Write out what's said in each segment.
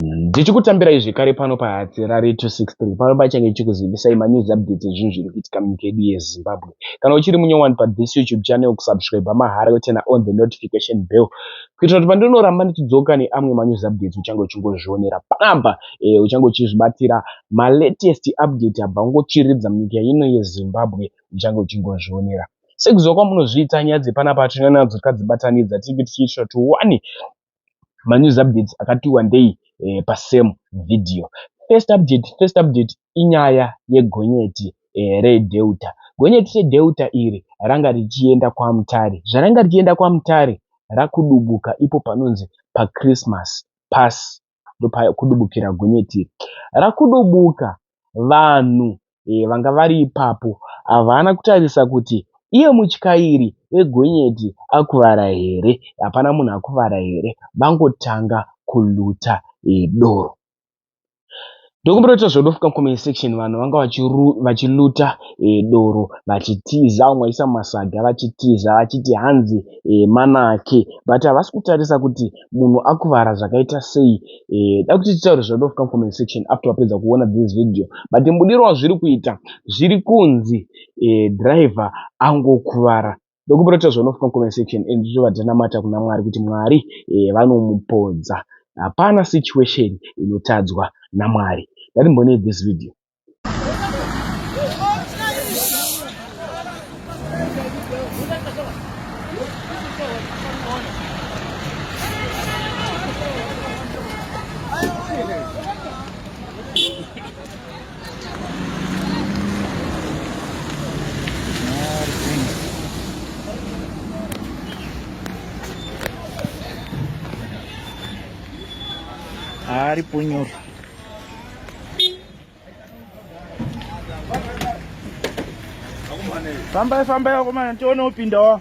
Ndichikutambirai zvekare pano paHatsi raRadio 263 pano pachange chichikuzivisai manews updates ezvinhu zviri kuitika munyika yedu yeZimbabwe. Kana uchiri munyowani pathis YouTube channel kusubscriber mahara yoturner on the notification bell kuitira kuti pandinoramba ndichidzoka neamwe manews updates uchange uchingozvionera panapa eh, uchange uchizvibatira malatest update abva kungotsviridza munyika ino yeZimbabwe uchange uchingozvionera sekuziva kwamunozviita nyaya dzepanapa tinoona nadzo tikadzibatanidza tinenge tichiitira kuti one manews updates akati wandei eh, pasame video first update first update inyaya yegonyeti eh, redeuta gonyeti redeuta iri ranga richienda kwamutare zvaranga richienda kwamutare rakudubuka ipo panonzi pachristmas pasi ndopakudubukira gonyeti iri rakudubuka vanhu eh, vanga vari ipapo havana kutarisa kuti iye mutyairi wegonyeti akuvara here hapana munhu akuvara here vangotanga kuluta eh, doro Ndokumbira kuita zvodofu comment section vanhu vanga vachiluta e, doro vachitiza vamwe vaisa masaga vachitiza vachiti hanzi e, manake but havasi kutarisa kuti munhu akuvara zvakaita sei e, da kuti titaure zvodofu comment section after wapedza kuona this video but mbudiro wazviri kuita zviri kunzi e, driver angokuvara ndokumbira kuti zvono from comment section and zvichova dzinamata kuna mwari kuti mwari eh, vanomupodza hapana situation inotadzwa namwari ndatimbonei this video Ari punyoro. Fambai fambai akomana tione upindawo.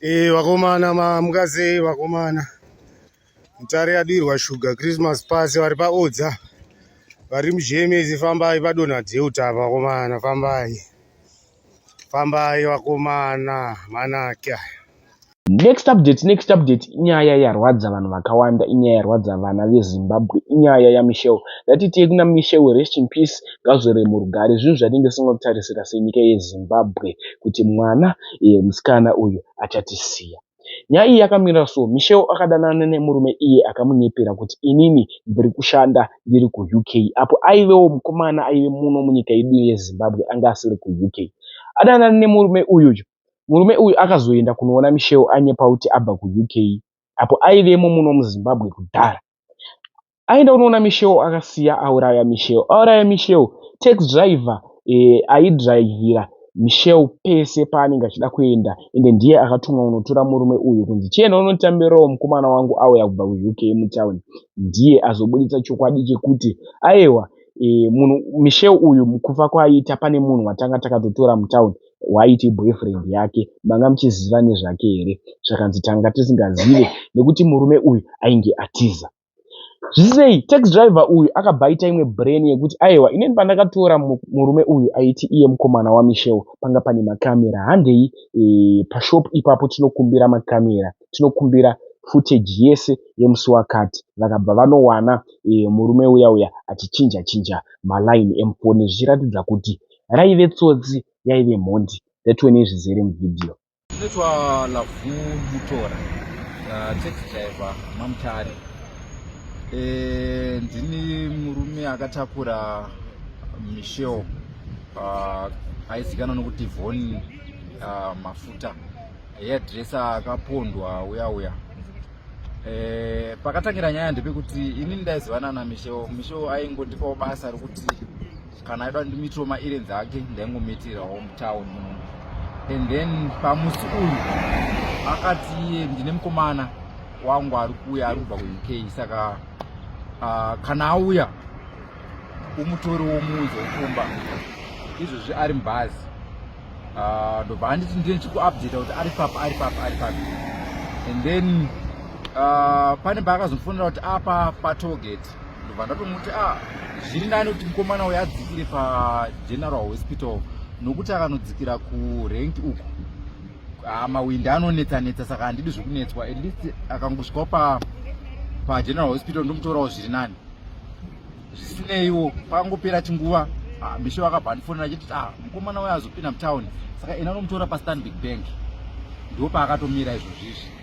Eh, vakomana mamukazei vakomana mutare yadirwa shuga christmas pasi vari paodza vari mujemezi fambai padonha deuta vakomana fambai fambai vakomana manake next update next update inyaya yarwadza vanhu vakawanda inyaya yarwadza vana vezimbabwe inyaya yamichel ndatitei kuna michel rest in peace ngazvere murugare zvinhu zvatinge singakutarisira senyika yezimbabwe kuti mwana iye musikana uyu achatisiya. Nyaya iyi yakamira so, Michelle akadanana nemurume iye akamunyepera kuti inini ndiri kushanda ndiri kuUK apo aivewo mukomana aive muno munyika yedu yeZimbabwe anga asiri kuUK. Adanana nemurume uyu, murume uyu akazoenda kunoona Michelle anyepa kuti abva kuUK apo aivemo muno muZimbabwe kudhara. aenda unoona misheo akasiya auraya misheo auraya misheo tax driver eh, aidrivhira misheo pese paanenge achida kuenda ende ndiye akatumwa unotora murume uyu kunzi chienda unotambirawo mukomana wangu auya kubva kuuk mutown ndiye azobuditsa chokwadi chekuti aewa eh, munhu misheo uyu mukufa kwaiita pane munhu watanga takatotora mutown waiti boyfriend yake manga muchiziva nezvake here zvakanzi tanga tisingazive nekuti murume uyu ainge atiza Zvisei, tax driver uyu akabva aita imwe brain yekuti ayewa inini pandakatora murume uyu aiti iye mukomana waMichelle panga pane makamera handei e, pashop ipapo tinokumbira makamera tinokumbira footage yese yemusi wakati vakabva vanowana e, murume uya uya achichinja chinja maline emufoni zvichiratidza kuti raive tsotsi yaive mhondi that when izvizere muvideo Ndinoitwa Lavu Mutora, uh, taxi driver maMutare. Eh, ndini murume akatakura Michelle uh, aizikanwa nokuti Von uh, Mafuta haiadresa akapondwa uya uya e, pakatangira nyaya ndepekuti ini ndaizivanana misho misho aingondipawo basa rekuti kana aida ndimitiro maerrands ake ndaingomitirawo mutown and then pamusi uyu akati iye ndine mukomana wangu ari kuuya ari kubva kuuk saka uh, kana auya umutori womuudzi wokumba izvozvi ari mubhazi ah, ndobva uh, anditi ndine chikuupdata kuti ari papi ari papi ari papi and then uh, pane paakazomufonera kuti apa patoget ndobva ndatomuti a ah, zviri nani kuti mukomana uyo adzikire pageneral hospital nokuti akanodzikira kurenki uku ah, mawindi anonetsa netsa saka handidi zvekunetswa at least akangosvikawo pa pageneral hospital ndomutorawo zviri nani zvisineiwo pakangopera chinguva ah, misho vakabva andifonera chiti a mukomana uyo azopinda mutown saka ena anomutora pastanbic bank ndo paakatomira izvozvizvi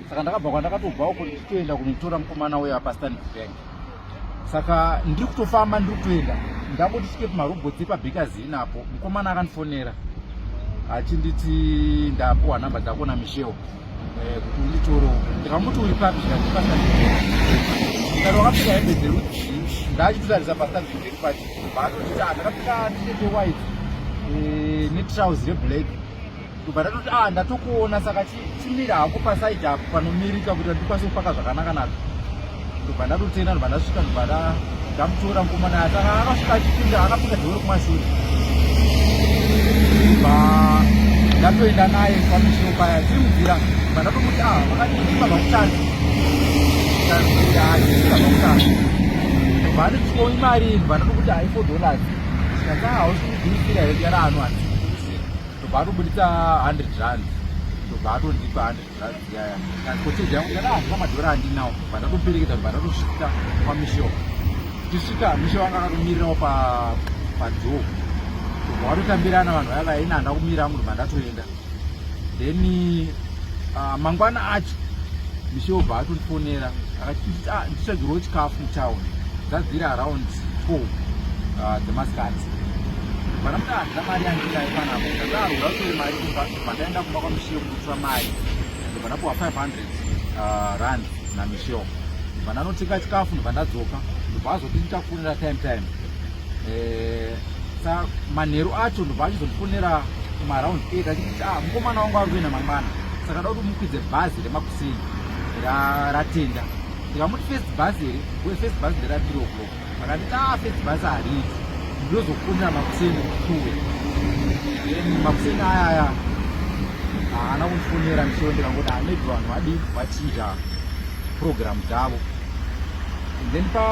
saka ndakabva kwandakatobva uko ndichitoenda kunotora mukomana uyo apastan bank saka ndiri kutofamba ndiri kutoenda ndangoti svike pamarobotsi epabhikazi inapo mukomana akandifonera achinditi ndapuwa nhamba dzako namishewo eh, kuti unditoro ndikamuti uri papi ndandipastan kana wakapfeka hembe dzerudzii ndachitotarisa pastan iri pati baatotita ndakapfeka tete white eh, netrouse reblack ndobva ndatoti a ah, ndatokuona saka chimira hako pasaidi apo panomirika kuti ndikwanise kupaka zvakanaka nazvo ndobva ndatotenda ndobva ndasvika ndobva ndamutora mukoma naye saka akasvika achipinda akapinda dheoro kumashure ndobva ndatoenda naye kwamishewo paya tiri mubvira ndobva ndatomuti a ah, vakaiiva vakutanga vane chikoi mari vanoti kuti haifo dollars saka hausi kugumisira here yaraano hati ndobva atobuditsa 100 rand ndobva atondipa 100 rand yaya transportage yangu kana handina madhora andinawo bva ndatoperekedza ndobva ndatosvika kwamisho tichisvika misho vanga akatomirirawo padzoo ndobva watotambirana vanhu vaya vaina handa kumira angu ndobva ndatoenda then uh, mangwana acho misho bva atondifonera akati ah, ndichagirwo chikafu mutown dzadziri around Ko ah, dzemasikati vana mudadza mari yandidai panapo ndadaro ndatori mari kumba pandaenda kumba kwamishiyo kunotora mari ende panapuwa 500 ah, rand namishiyo vananotenga chikafu ndobva ndadzoka ndobva azoti ndichakufonera time time eh, sa manheru acho ndobva achizondifonera kumaraund eight achiti ah, mukomana wangu ari kuenda mangwana saka da kuti mukwidze bhazi remakuseni ratenda ndikamuti first bus here we first bus ndera 3 o'clock vakati ta ah, first bus hariiti ndozokumbira makuseni kutuwe makuseni aya aya haana kundifonera ndichiwo ndikangoda maybe vanhu vadi vachidya program dzavo then pa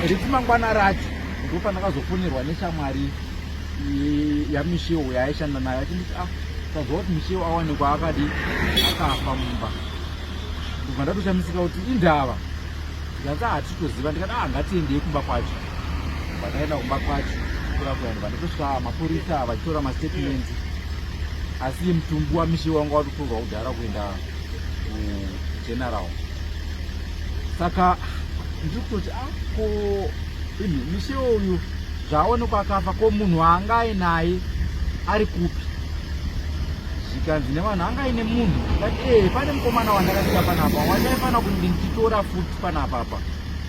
riti mangwana racho ndopandakazofonerwa neshamwari yamishiwo yaishanda nayo achinditi ah tazova kuti mishiwo awanikwa akadi akafa mumba kubva ndatoshamisika kuti indava ndikati hatitoziva ndikati a ah, ngatiendei kumba kwacho kubva ndaenda kumba kwacho kura kuenda bva ndatosvika mapurisa vachitora mastatement asi mutumbi wamishe wanga watotorwa kudhara kuenda kugeneral saka ndiri kutoti ako ah, ini mishe uyu Zvaonekwa akafa ko munhu waanga ainaye ari kupi? Zvikanzi nevanhu anga aine munhu but ee eh, pane mukomana wandakasika panapa wandaifanira kuti ndichitora futi panapa apa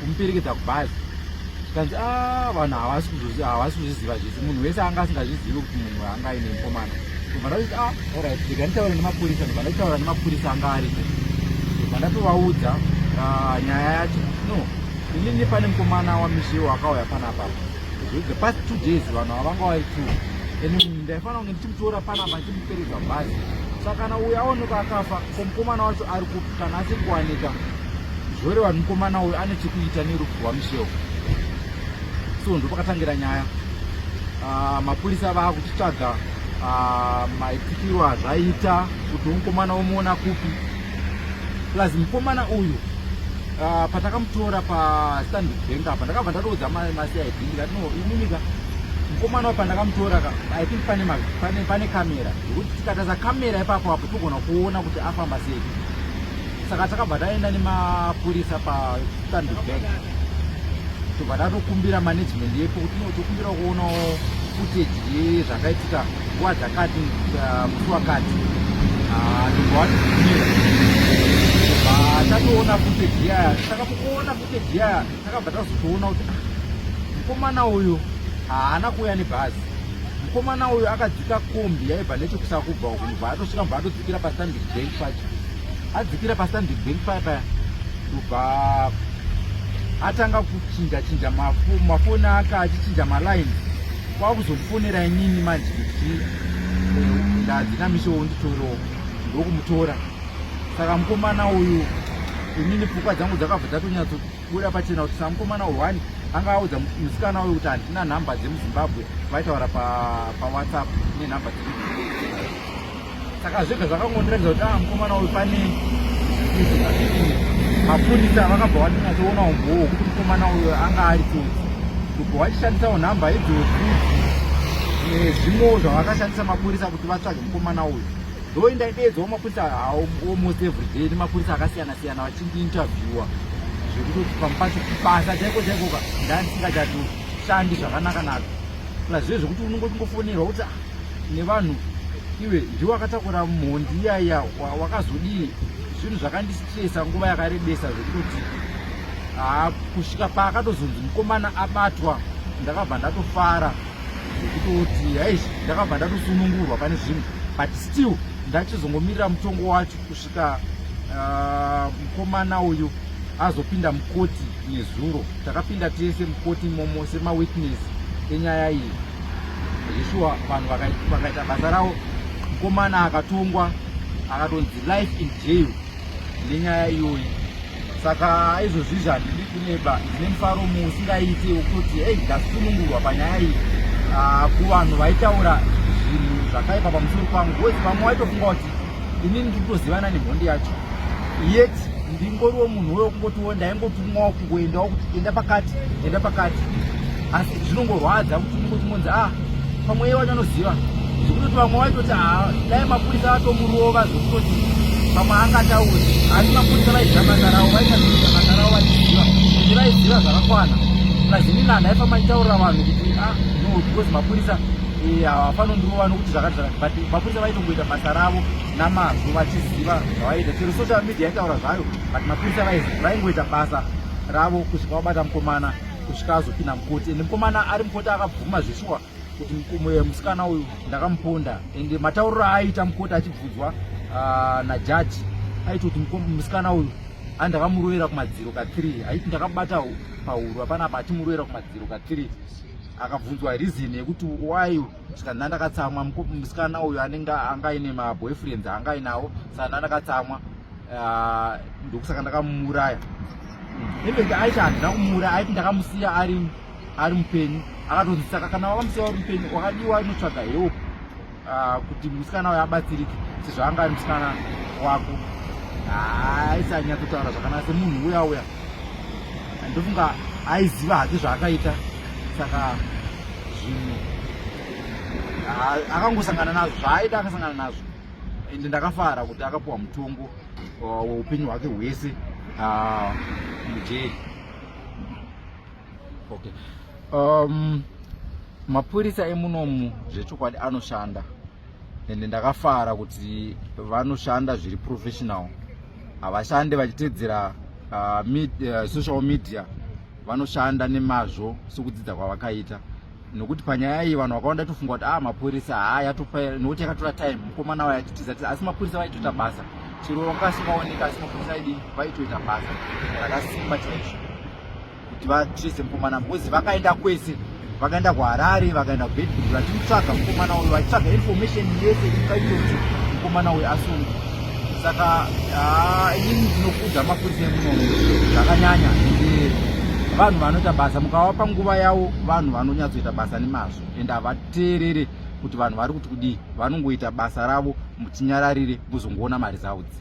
kumuperekedza kubhazi. Zvikanzi aa ah, vanhu havasi kuzviziva zvese munhu wese anga asingazvizivi kuti munhu waanga aine mukomana. Ndobva ndakuti a ah, orit ndika nditaura nemapurisa ndobva ndaitaura nemapurisa anga ariko ndobva ndatovaudza ah, nyaya yacho no Inini pane mukomana waMishewo akauya panapa the past two days vanhu avanga vari two and ndaifanira kunge ndichimutora panapa ndichimuperedza bhazi saka kana uyu aonekwa akafa ko mukomana wacho ari kupi kana asiri kuwanika zvoreva kuti mukomana uyu ane chekuita nerufu rwaMishewo so ndopakatangira nyaya ah, mapurisa vava kuchitsvaga ah, maitikiro azvaita kuti mukomana womuona kupi plus mukomana uyu uh, patakamutora pastandic bank apa ndakabva ndatoudza mai masi aidi ndikati no iminika mukomana wapa ndakamutora ka i think pane, pane, pane kamera yekuti tikataza kamera ipapo apo togona kuona kuti afamba sei saka takabva taenda nemapurisa pastandic bank tobva tatokumbira management yepo kuti no tokumbira kuonawo footage yezvakaitika nguva dzakati uh, musi wakati ndobva watibvumira tatoona footage yaya saka mukuona footage yaya takabva tazotoona kuti ah, mukomana uyu haana kuuya nebhazi mukomana uyu akadzika kombi yaibva nechekusakubva uku ndobva atosvika mubva atodzikira pastandic bank pacho adzikira pastandic bank paya paya ndobva atanga kuchinja chinja mafoni ake achichinja malines kwakuzokufonera inini manje kuti eh, ndadzi namisho wonditorawo ndokumutora saka mukomana uyu inini pfukwa dzangu dzakabva dzatonyatsobuda pachena kuti samukomana one anga audza musikana uyu kuti handina nhamba dzemuzimbabwe vaitaura pawhatsapp nenhamba dzedu saka zvega zvakangondiratidza kuti ah mukomana uyu pane mapurisa vakabva vatinatsoona umbowo hwekuti mukomana uyo anga ari tsotsi kubva vachishandisawo nhamba idzodzi eh, zvimwewo zvavakashandisa mapurisa kuti vatsvage mukomana uyo ndo indaidedzwa mapurisa almost every day nemapurisa akasiyana siyana vachindiinterviewa zvekuti pamupasi basa chaiko chaikoka ndandisingachato shandi zvakanaka nazvo plus zve zvekuti unongotingofonerwa kuti ah, nevanhu iwe ndiwe wakatakura mhondi iyaiya wakazodii zvinhu zvakandistresa nguva yakarebesa zvekutoti haa kusvika paakatozonzi mukomana abatwa ndakabva ndatofara zvekutoti haizi ndakabva ndatosunungurwa pane zvinhu but still ndachizongomirira mutongo wacho Saka ah, mukomana uh, uyu azopinda mukoti nezuro takapinda tese mukoti imomo semawitness enyaya iyi zveshuwa vanhu vakaita basa ravo mukomana akatongwa akatonzi life in jail nenyaya iyoyi saka izvozvizvi handidi kuneba ndine mufaro muusingaiti wekuti ei ndasunungurwa panyaya iyi ah, kuvanhu vaitaura zvinhu zvakaipa pamusoro pangu bcause vamwe waitofunga kuti ini ndiri kutozivana nemhondi yacho yet ndingoriwo munhu uyo kungotiwo ndaingotumwawo kungoendawo kuti enda pakati enda pakati asi zvinongorwadza kuti unongotimonzi a ah, pamwe iye wacho anoziva zvekutoti vamwe vaitoti haa dai mapurisa atomurova zvekutoti pamwe angatauri asi mapurisa vaiziva basa ravo vaitaziva basa ravo vachiziva kuti vaiziva zvakakwana lazini nani aifamba nditaurira vanhu kuti a ah, no because mapurisa eh, hawafanondirova nokuti zvakati zvakati but mapurisa vaitongoita basa ravo namazvo vachiziva zvavaiita chero social media yaitaura zvayo but mapurisa vaingoita basa ravo kusvika vabata mukomana kusvika azopinda mukoti ende mukomana ari mukoti akabvuma zveshuwa kuti mumwe musikana uyu ndakamuponda ende matauriro aaiita mukoti achibvunzwa ah, najaji aiti kuti musikana uyu a ndakamurovera kumadziro kathree aiti ndakabata pahuru apana apa achimurovera kumadziro kathree akabvunzwa reason yekuti why saka ndandakatsamwa musikana uyu anenge anga aine maboyfriends anga ainawo saka ndandakatsamwa Ah, ndokusaka ndakamuuraya even aisha handina kumuuraya aiti ndakamusiya ari ari mupenyu akatonzi saka kana wakamusiya wari mupenyu wakadiwa inotsvaga help ah, kuti musikana uyo abatsirike sezvo anga ari musikana wako ah, aisanyatsotaura zvakanaka semunhu uya uya ndofunga aiziva hake zvaakaita saka zvinhu akangosangana nazvo zvaaida akasangana nazvo ende ndakafara kuti akapuwa mutongo uh, weupenyu hwake hwese uh, mujeri okay um, mapurisa emunomu zvechokwadi anoshanda ende ndakafara kuti vanoshanda zviri professional havashande vachitedzera uh, med, uh, social media vanoshanda nemazvo sokudzidza kwavakaita nokuti panyaya iyi vanhu vakawanda tofunga kuti a ah, mapurisa haa yatopa nokuti yakatora time mukomana waya titiza tiza asi mapurisa vaitoita basa chero vakasingaoneka asi mapurisa aidi vaitoita basa rakasimba chaizvo kuti vatrese mukomana because vakaenda kwese vakaenda kuharare vakaenda kubedbur vachimutsvaga mukomana uyo vachitsvaga information yese ikaitoti mukomana uyo asungwa saka ah, inini ndinokudza mapurisa emunomu zvakanyanya vanhu vanoita basa mukavapa nguva yavo vanhu vanonyatsoita basa nemazvo and havateerere kuti vanhu vari kuti kudii vanongoita basa ravo mutinyararire muzongoona mari dzavo dzi